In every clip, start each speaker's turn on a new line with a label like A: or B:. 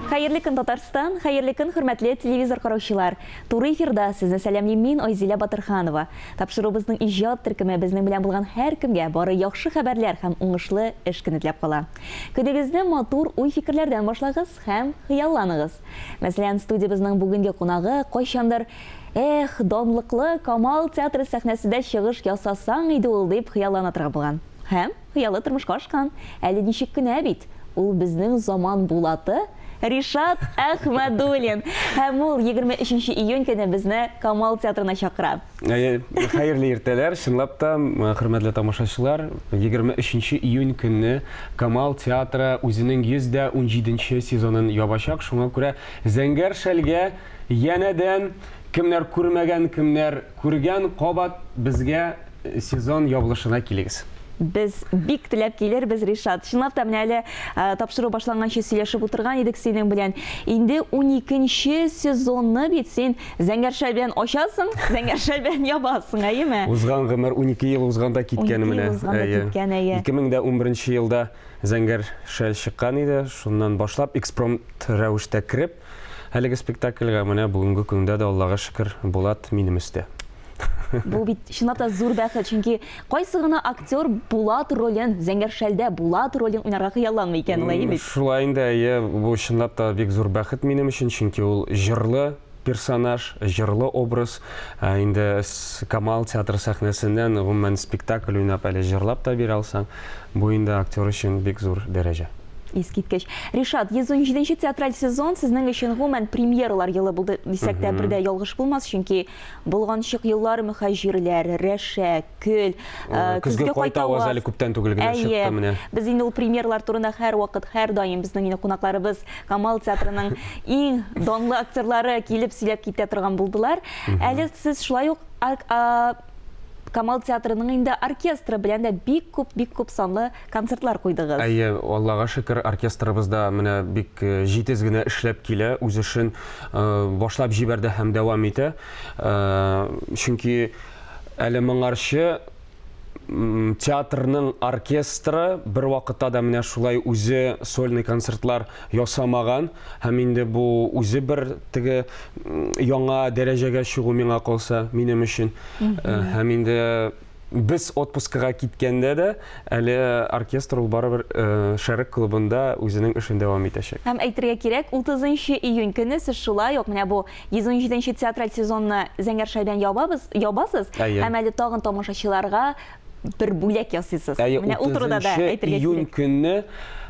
A: Хәерле көн, Татарстан! Хәерле көн, хөрмәтле телевизор караучылар! Туры эфирда сезне сәламлим мин, Айзилә Батырханова. Тапшыруыбызның иҗат төркеме безнең белән булган һәркемгә бары яхшы хәбәрләр һәм уңышлы эш көне теләп кала. Көнегезне матур уй-фикерләрдән башлагыз һәм хыялланыгыз. Мәсәлән, студиябезнең бүгенге кунагы кайчандыр Эх, данлыклы Камал театры сәхнәсендә чыгыш ясасаң иде ул, дип хыяллана торган булган. Һәм хыялы тормышка ашкан. Әле ничек кенә бит! Ул безнең заман Булаты Ришат Әхмәдуллин! Һәм ул егерме өченче июнь көне безне Камал театрына чакыра. Әйе, хәерле
B: иртәләр! Чынлап та, хөрмәтле тамашачылар, егерме өченче июнь көнне Камал театры үзенең йөз дә унҗиденче сезонын ябачак. Шуңа күрә Зәңгәр шәлгә янәдән, кемнәр күрмәгән, кемнәр Күргән кабат безгә сезон ябылышына килегез. Без бик
A: теләп килербез, Ришат. Чынлап та, менә әле тапшыру башланганчы сөйләшеп утырган идек синең белән. Инде уникенче сезонны бит син Зәңгәршә белән ачасың, Зәңгәршә белән ябасың, әйеме? Узган гомер, унике
B: ел узган да киткән менә. Унике ел узган да киткән, әйе. Ике мең дә унберенче елда Зәңгәршә чыккан иде, шуннан башлап экспромт рәвештә кереп, Әлеге спектакльгә менә бүгенге көндә дә, Аллага шөкер, Булат минем өстә. Бу
A: бит чынлап та зур бәхет, чөнки кайсы гына актер Булат ролен, Зәңгәр шәлдә Булат ролен уйнарга хыялламый икән, алай бит? Шулай инде, әйе.
B: Бу чынлап та бик зур бәхет минем өчен, чөнки ул җырлы персонаж, җырлы образ. Ә инде Камал театры сәхнәсеннән, гомумән, спектакль уйнап, әле җырлап та бирә алсаң, бу инде актер өчен бик зур дәрәҗә. Искиткеч.
A: Ришат, 117 нче театраль сезон сезнең өчен гомумән премьералар елы булды дисәк тә бер дә ялгыш булмас, чөнки болганчык еллар мөхәҗирләр, Рәшә, Көл, э, көзге
B: кайта ваз әле күптән түгел генә чыкты менә. Без инде ул премьералар
A: турында һәр вакыт, һәр даим безнең инде кунакларыбыз Камал театрының иң данлы актерлары килеп сөйләп китә торган булдылар. Әле сез шулай ук Камал театрының инде оркестры белән дә бик күп, бик күп санлы концертлар куйдыгыз. Әйе, Аллага шөкер,
B: оркестрыбыз да менә бик җитез генә эшләп килә, үз эшен башлап җибәрде һәм дәвам итә. Чөнки әле моңарчы театрның оркестры бервакытта да менә шулай үзе сольный концертлар ясамаган һәм инде бу үзе бер теге яңа дәрәҗәгә чыгу миңа калса, минем өчен. Э, һәм инде без отпускага киткәндә дә әле оркестр ул барыбер э, Шәрык клубында үзенең эшен дәвам итәчәк. Һәм әйтергә кирәк,
A: 30 июнь көне сез шулай ук менә бу 117 театраль сезонны Зәңгәр шәйдән ябабыз, ябасыз. Әйе. Һәм әле тагын тамашачыларга бер бүләк ясыйсыз. Әйе, Менә ул турыда да 30
B: әйтергә июнь кирәк. көнне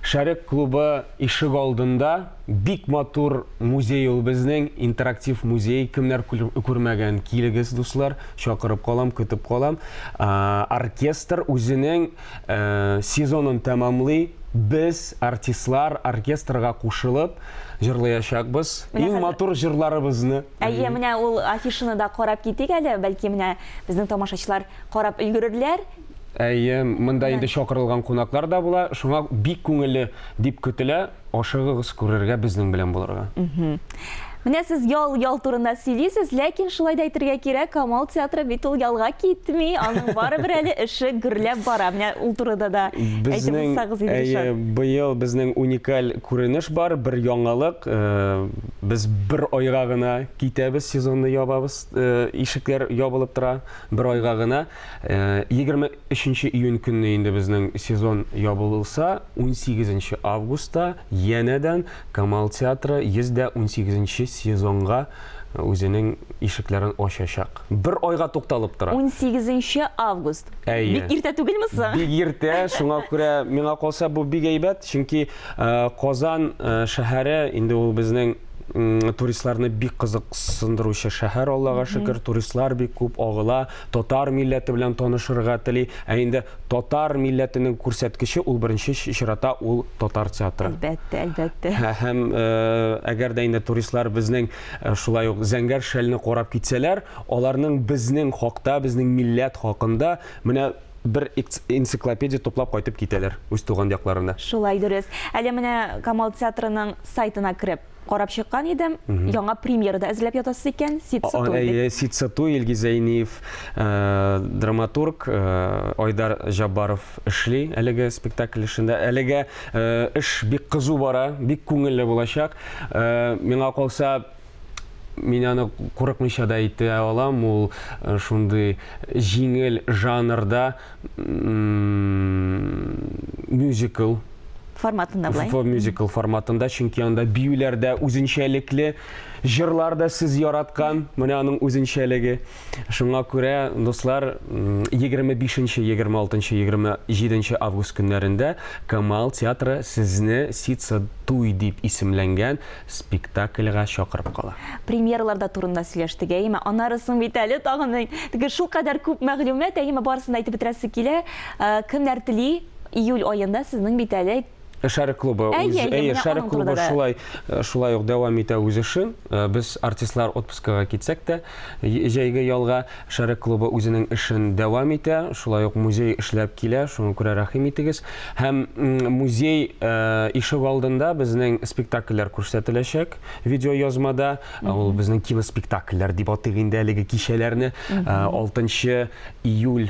B: Шәрык клубы ишек алдында бик матур музей ул безнең, интерактив музей. Кемнәр күрмәгән, килегез, дуслар, чакырып калам, көтеп калам. Оркестр үзенең сезонын тәмамлый. Без, артистлар, оркестрга кушылып җырлаячакбыз. Иң матур җырларыбызны. Әйе, менә ул
A: афишаны да карап китик әле, бәлки менә безнең тамашачылар Карап өлгерерләр. Әйе,
B: монда инде чакырылган кунаклар да була, шуңа бик күңелле дип көтелә, ашыгыгыз күрергә, безнең белән булырга. Менә
A: сез ял, ял турында сөйлисез, ләкин шулай да әйтергә кирәк, Камал театры бит ул ялга китми, аның барыбер әле эше гөрләп бара. Менә ул турыда да әйтеп узсагыз иде, Ришат. Әйе, быел безнең
B: уникаль күренеш бар, бер яңалык. Без бер айга гына китәбез, сезонны ябабыз, ишекләр ябылып тора. Бер айга гына, егерме өченче июнь көнне инде безнең сезон ябылса, унсигезенче августта янәдән Камал театры йөз дә унсигезенче сезонга үзенең ишекләрен ачачак. Бер айга тукталып тора. Унсигезенче
A: август. Әйе. Бик иртә түгелме соң? Бик иртә, шуңа
B: күрә миңа калса бу бик әйбәт, чөнки Казан шәһәре инде ул безнең. туристларны бик кызыксындыручы шәһәр, Аллага шөкер, туристлар бик күп агыла, татар милләте белән танышырга тели. Ә инде татар милләтенең күрсәткече ул беренче чирата ул татар театры. Әлбәттә, әлбәттә.
A: Һәм
B: әгәр дә инде туристлар безнең шулай ук зәңгәр шәлне карап китсәләр, аларның безнең хакта, безнең милләт хакында менә бер энциклопедия туплап кайтып китәләр үз туган якларына. Шулай дөрес.
A: Әле менә Камал театрының сайтына кереп карап чыккан идем. Яңа премьера да әзерләп ятасыз икән. Ситсатуй. Ситсатуй
B: Илги Зәйниев, э, драматург э, Айдар Җаббаров эшли әлеге спектакль эшендә. Әлегә э, эш бик кызу бара, бик күңелле булачак. Миңа калса, мин аны курыкмыйча да әйтә алам, ул э, шундый җиңел жанрда мюзикл форматында
A: былай. Фо мюзикл форматында,
B: чөнки анда биюләр дә үзенчәлекле, җырлар да сез яраткан, менә аның үзенчәлеге. Шуңа күрә, дуслар, 25 нче 26 нчы 27 нче август көннәрендә Камал театры сезне Сица туй дип исемләнгән спектакльга чакырып кала. Премьералар да турында
A: сөйләштек, әйеме? Аннары соң бит әле тагын мең. Теге шулкадәр күп мәгълүмат, әйеме, барысын да әйтеп бетерәсе килә. Кемнәр тели, июль аенда сезнең бит әле Шәрык клубы, әйе,
B: үз, әйе, шәрык клубы шулай, э, шулай ук дәвам итә үз эшен. Э, без артистлар отпускага китсәк тә, җәйге ялга шәрык клубы үзенең эшен дәвам итә. Шулай ук музей эшләп килә, шуңа күрә рәхим итегез. Һәм музей э, ишек алдында безнең спектакльләр күрсәтеләчәк видеоязмада. Ул безнең киноспектакльләр дип атыйк инде әлеге кичәләрне. 6 июль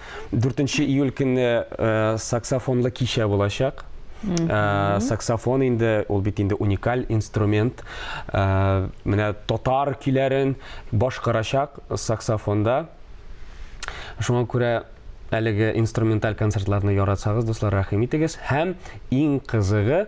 B: 4 июль көнне э, саксофонлы кичә булачак. Э, саксофон инде ул бит инде уникаль инструмент. Э, менә татар көйләрен башкарачак саксофонда. Шуңа күрә әлеге инструменталь концертларны яратсагыз, дуслар, рәхим итегез. Һәм иң кызыгы,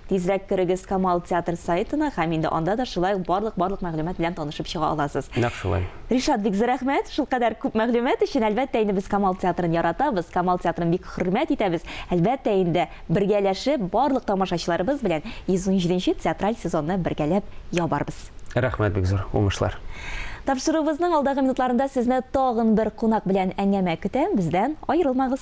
A: Тизрәк керегез Камал театр сайтына һәм инде анда да шулай ук барлык барлык мәгълүмат белән танышып чыга аласыз. Нәкъ шулай. Ришат,
B: бик зур рәхмәт,
A: шулкадәр күп мәгълүмат өчен. Әлбәттә инде без Камал театрын яратабыз, Камал театрын бик хөрмәт итәбез. Әлбәттә инде, бергәләшеп, барлык тамашачыларыбыз белән 117 нче театраль сезонны бергәләп ябарбыз. Рәхмәт бик зур,
B: уңышлар. Тапшыруыбызның
A: алдагы минутларында сезне тагын бер кунак белән әңгәмә көтә, бездән аерылмагыз.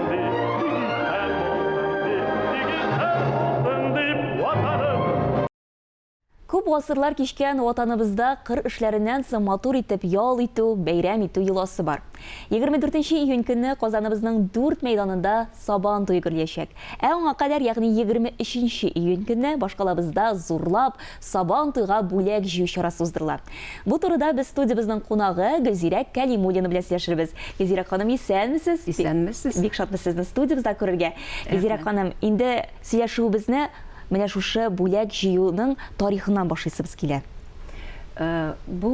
A: Күп гасырлар кичкән ватаныбызда кыр эшләреннән соң матур итеп ял итү, бәйрәм итү йоласы бар. 24 июнь көнне Казаныбызның дүрт мәйданында Сабан туе гөрләячәк. Ә аңа кадәр, ягъни 23 июнь көнне башкалабызда зурлап, Сабан туйга бүләк җыю чарасы уздырыла. Бу турыда без студиябезнең кунагы Гөлзирә Кәлимуллина белән сөйләшербез. Гөлзирә ханым, исәнмесез! Исәнмесез! Бик
C: шатбыз сезне
A: студиябездә күрергә. Гөлзирә ханым, инде сөйләшүебезне менә шушы бүләк җыюның тарихыннан башлыйсыбыз килә.
C: Бу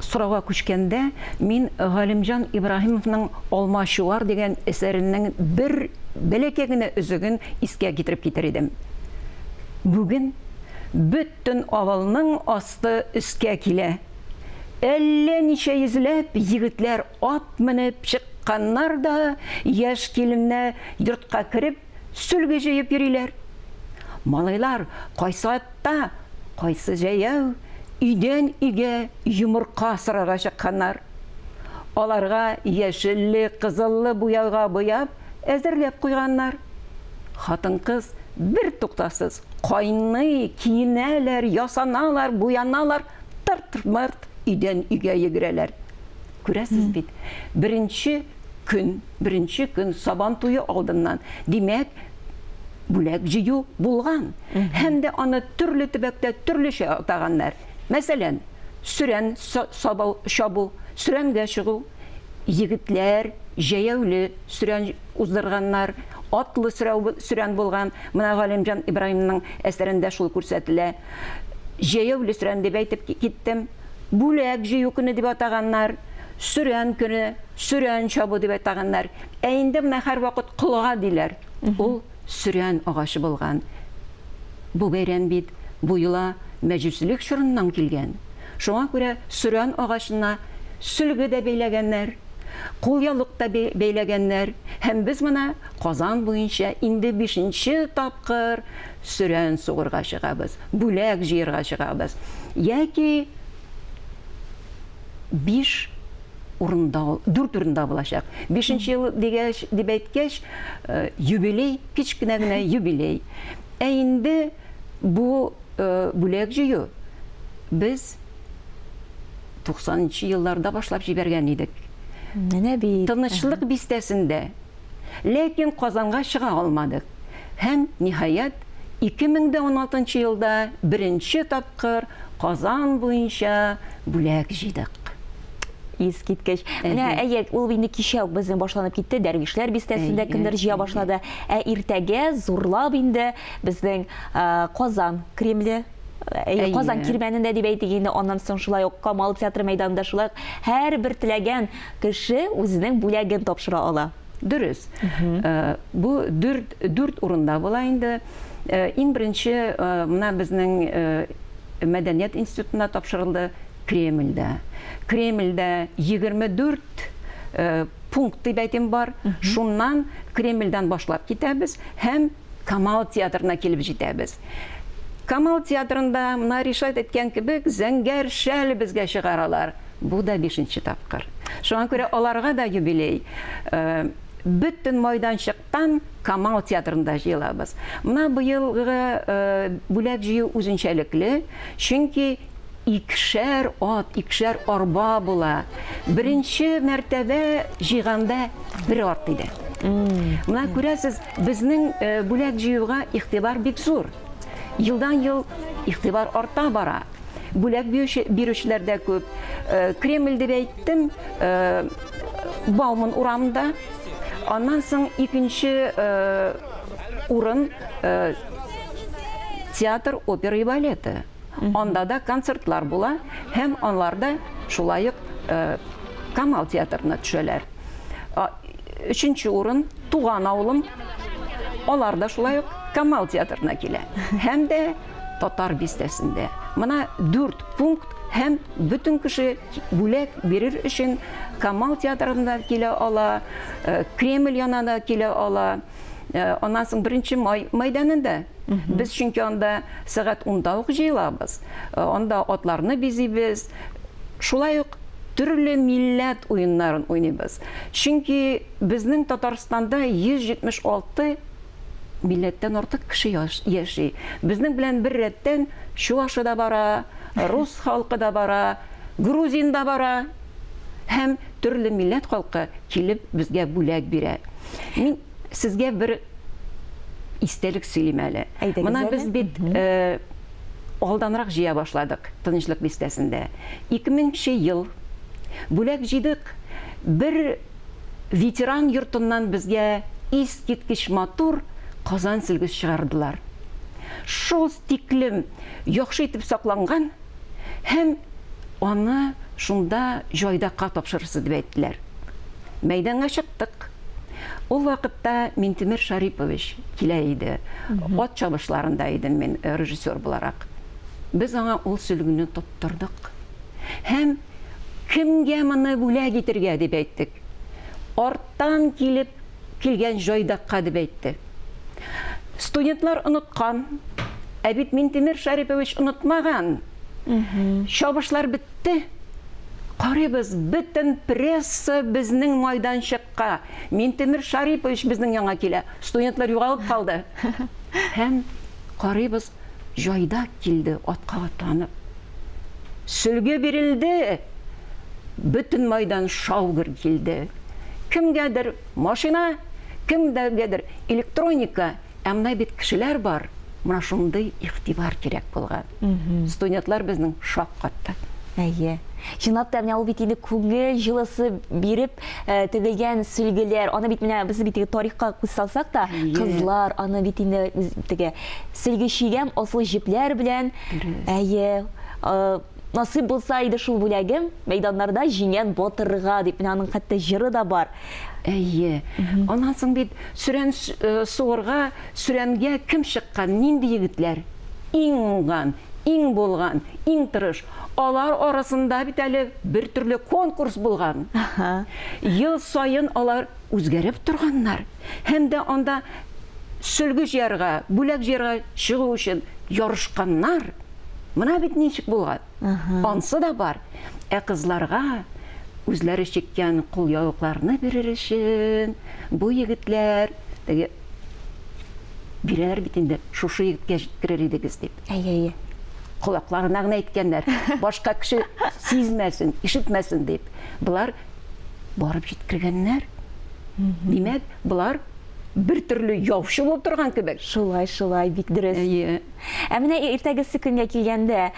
C: сорауга күчкәндә, мин Галимҗан Ибраһимовның Алмачуар дигән әсәренең бер бәләкәй генә өзеген искә китереп китәр идем. Бүген бөтен авылның асты өскә килә. Әллә ничә йөзләп егетләр ат менеп чыкканнар да яшь киленнәр йортка кереп сөлге җыеп йөриләр. Малайлар кайсы атта, кайсы җәяү өйдән өйгә йомырка сорарга чыкканнар. Аларга яшелле, кызыллы буяуга буяп, әзерләп куйганнар. Хатын-кыз бертуктасыз кайный, киенәләр, ясаналар, буяналар, тырт-мырт өйдән-өйгә йөгерәләр. Күрәсез бит, беренче көн, беренче көн Сабан туе алдыннан, димәк, бүләк җыю булган. Һәм дә аны төрле төбәктә төрлечә атаганнар. Мәсәлән, сөрән чабу, сөрәнгә чыгу. Егетләр җәяүле сөрән уздырганнар, атлы сөрән булган. Менә Галимҗан Ибраһимның әсәрендә шул күрсәтелә. Җәяүле сөрән дип әйтеп киттем. Бүләк җыю көне дип атаганнар. Сөрән көне, сөрән чабу дип атаганнар. Ә инде менә һәрвакыт колга диләр. Ул Сөрән агачы булган бу бәйрәм бит бу йола мәҗүсилек чорыннан килгән. Шуңа күрә сөрән агачына сөлге дә бәйләгәннәр, кулъяулык та бәйләгәннәр һәм без менә Казан буенча инде бишенче тапкыр сөрән сугырга чыгабыз, бүләк җыерга чыгабыз. Яки биш урында ул, дүрт урында булачак. Бишенче ел дигәч, дип әйткәч, э, юбилей, кечкенә генә юбилей. Ә инде бу э, бүләк җыю без 90 елларда башлап җибәргән идек. Менә бит.
A: Тынычлык бистәсендә
C: Ләкин Казанга чыга алмадык һәм, ниһаять, 2016 елда беренче тапкыр Казан буенча бүләк җыйдык.
A: Искиткеч. Менә, әйе, ул инде кичә үк безнең башланып китте, Дәрвишләр бистәсендә кемдер җыя башлады. Ә иртәгә зурлап инде безнең Казан Кремле, Казан кирмәнендә дип әйтик инде, аннан соң шулай ук Камал театры мәйданында, шулай ук һәрбер теләгән Кеше үзенең бүләген тапшыра ала. Дөрес.
C: Бу дүрт, дүрт урында була инде. Иң беренче менә безнең мәдәният институтында тапшырылды, Кремльдә. Кремльдә 24 пункт дип әйтим бар. Шуннан Кремльдән башлап китәбез һәм Камал театрына килеп җитәбез. Камал театрында, менә Ришат әйткән кебек, зәңгәр шәл безгә чыгаралар. Бу да бишенче тапкыр. Шуңа күрә аларга да юбилей. Бөтен майданчыктан Камал театрында җыелабыз. Менә быелгы бүләк җыю үзенчәлекле, чөнки икешәр ат, икешәр арба була. Беренче мәртәбә җыйганда бер ат иде. Менә күрәсез, безнең э, бүләк җыюга игътибар бик зур. Елдан-ел игътибар арта бара. Бүләк бирүчеләр дә күп. Э, Кремль дип әйттем, э, Бауман урамында. Аннан соң икенче урын театр, опера и балеты. Анда да концертлар була һәм анларда шулай ук Камал театрына төшәләр. Өченче урын туган авылым. Алар да шулай ук Камал театрына килә. Һәм дә татар бистәсендә. Мына дүрт пункт һәм бөтен кеше бүләк бирер өчен Камал театрына килә ала, э, Кремль янына килә ала. Э, аннан соң беренче май мәйданында без чөнки анда сәгать унда ук җыелабыз э, анда атларны бизибез шулай ук төрле милләт уеннарын уйныйбыз чөнки безнең татарстанда 176 милләттән артык кеше яши безнең белән бер рәттән чувашы да бара рус халкы да бара грузин да бара һәм төрле милләт халкы килеп безгә бүләк бирә. Мин сезгә бер истәлек сөйлим әле. Мына без бит алданрак җыя башладык Тынычлык бистәсендә. 2000 нче ел бүләк җыйдык, бер ветеран йортыннан безгә искиткеч матур Казан сөлге чыгардылар. Шул тиклем яхшы итеп сакланган. һәм аны шунда җайдакка тапшырырсыз дип әйттеләр. Мәйданга чыктык. Ул вакытта Минтимер Шарипович килә иде. Ат чабышларында идем мин э, режиссер буларак. Без аңа ул сөлгене тоттырдык. Һәм кемгә моны бүләк итергә дип әйттек. арттан килеп килгән җайдакка дип әйтте. Студентлар оныткан, ә бит Минтимер Шәрипович онытмаган. Чабышлар бетте. Карыйбыз, бөтен пресса безнең майданчыкка. Минтимер Шарипович безнең яңа килә. Студентлар югалып калды. Һәм карыйбыз, җайдак килде атка атланып. Сөлге бирелде, бөтен майдан шау-гөр килде. Кемгәдер машина, кемгәдер электроника, ә менә бит кешеләр бар, менә шундый игътибар кирәк булган. Студентлар безнең шаккатты. Әйе.
A: Чынлап та, менә ул бит инде күңел җылысы биреп э, тегелгән сөлгеләр. Аны бит менә без бит тарихка күз салсак та, кызлар аны бит инде теге Сөлге чигәм аслы җепләр белән. Әйе, насыйп булса иде шул бүләгем, мәйданнарда җиңгән батырга, дип, менә аның хәтта җыры да бар. Әйе.
C: Аннан соң бит сөрән суырга, сөрәнгә кем чыккан, нинди егетләр? Иң уңган, иң булган, иң тырыш. Алар арасында бит әле бертөрле конкурс булган. Ел саен алар үзгәреп торганнар һәм дә анда сөлге җыярга, бүләк җыярга чыгу өчен ярышканнар. Мына бит ничек булган. Ансы да бар. Ә кызларга үзләре чиккән кулъяулыкларны бирер өчен бу егетләр теге бирәләр бит инде, шушы егеткә җиткерер идегез дип. Әйе, әйе.
A: Колакларына
C: гына әйткәннәр, башка кеше сизмәсен, ишетмәсен дип. Болар барып җиткергәннәр. Димәк, болар бер төрле яучы булып торган кебек. Шулай, шулай, бик
A: дөрес. Әйе. Ә
C: менә
A: иртәгесе көнгә килгәндә,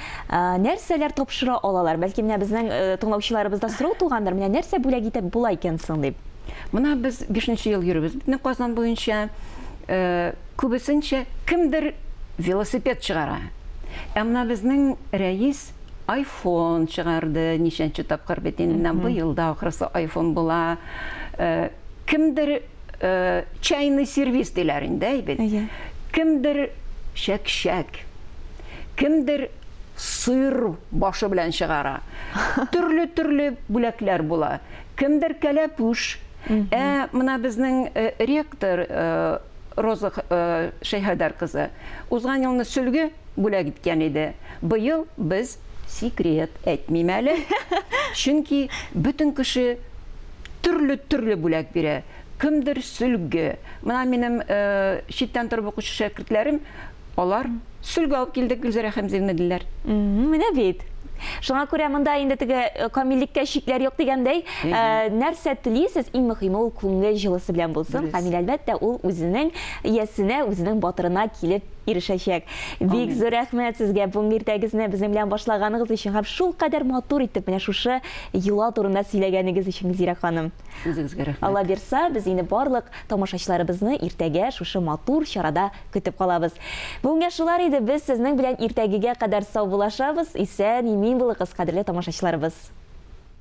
A: нәрсәләр тапшыра алалар? Бәлки менә безнең э, тыңлаучыларыбызда сорау тугандыр, менә нәрсә бүләк итеп була икән соң дип. Менә без
C: 5 ел йөрибез бит Казан буенча. Э, күбесенчә кемдер велосипед чыгара. Ә менә безнең рәис Айфон чыгарды, ничәнче тапкыр бит инде менә быел да ахрысы айфон була. Кемдер чайный сервис диләр инде, әй бит. Кемдер чәкчәк, кемдер сыр башы белән чыгара. Төрле-төрле бүләкләр була. Кемдер кәләпүш. Ә менә безнең ректор Роза Шәйхәдәр кызы узган елны сөлге бүләк иткән иде. Быел без, секрет, әйтмим әле, чөнки бөтен кеше төрле-төрле бүләк бирә. Кемдер сөлге. Менә минем э, читтән торып укучы шәкертләрем, алар сөлге алып килдек, Гөлзәрә Хәмзевна диләр. Менә бит.
A: Шуңа күрә монда инде теге э, камиллеккә чикләр юк дигәндәй, э, нәрсә телисез, иң мөһиме ул күңел җылысы белән булсын. Камил әлбәттә ул үзенең иясенә, үзенең батырына килеп ирешәчәк. Бик зур рәхмәт сезгә бүгенге иртәгезне безнең белән башлаганыгыз өчен һәм шул кадәр матур итеп менә шушы йола турында сөйләгәнегез өчен Гөлзирә ханым. Үзегезгә рәхмәт. Алла
C: бирса, без инде
A: барлык тамашачыларыбызны иртәгә шушы матур чарада көтеп калабыз. Бүгенгә шулар иде, без сезнең белән иртәгегә кадәр саубуллашабыз, исән, имин булыгыз, кадерле тамашачыларыбыз.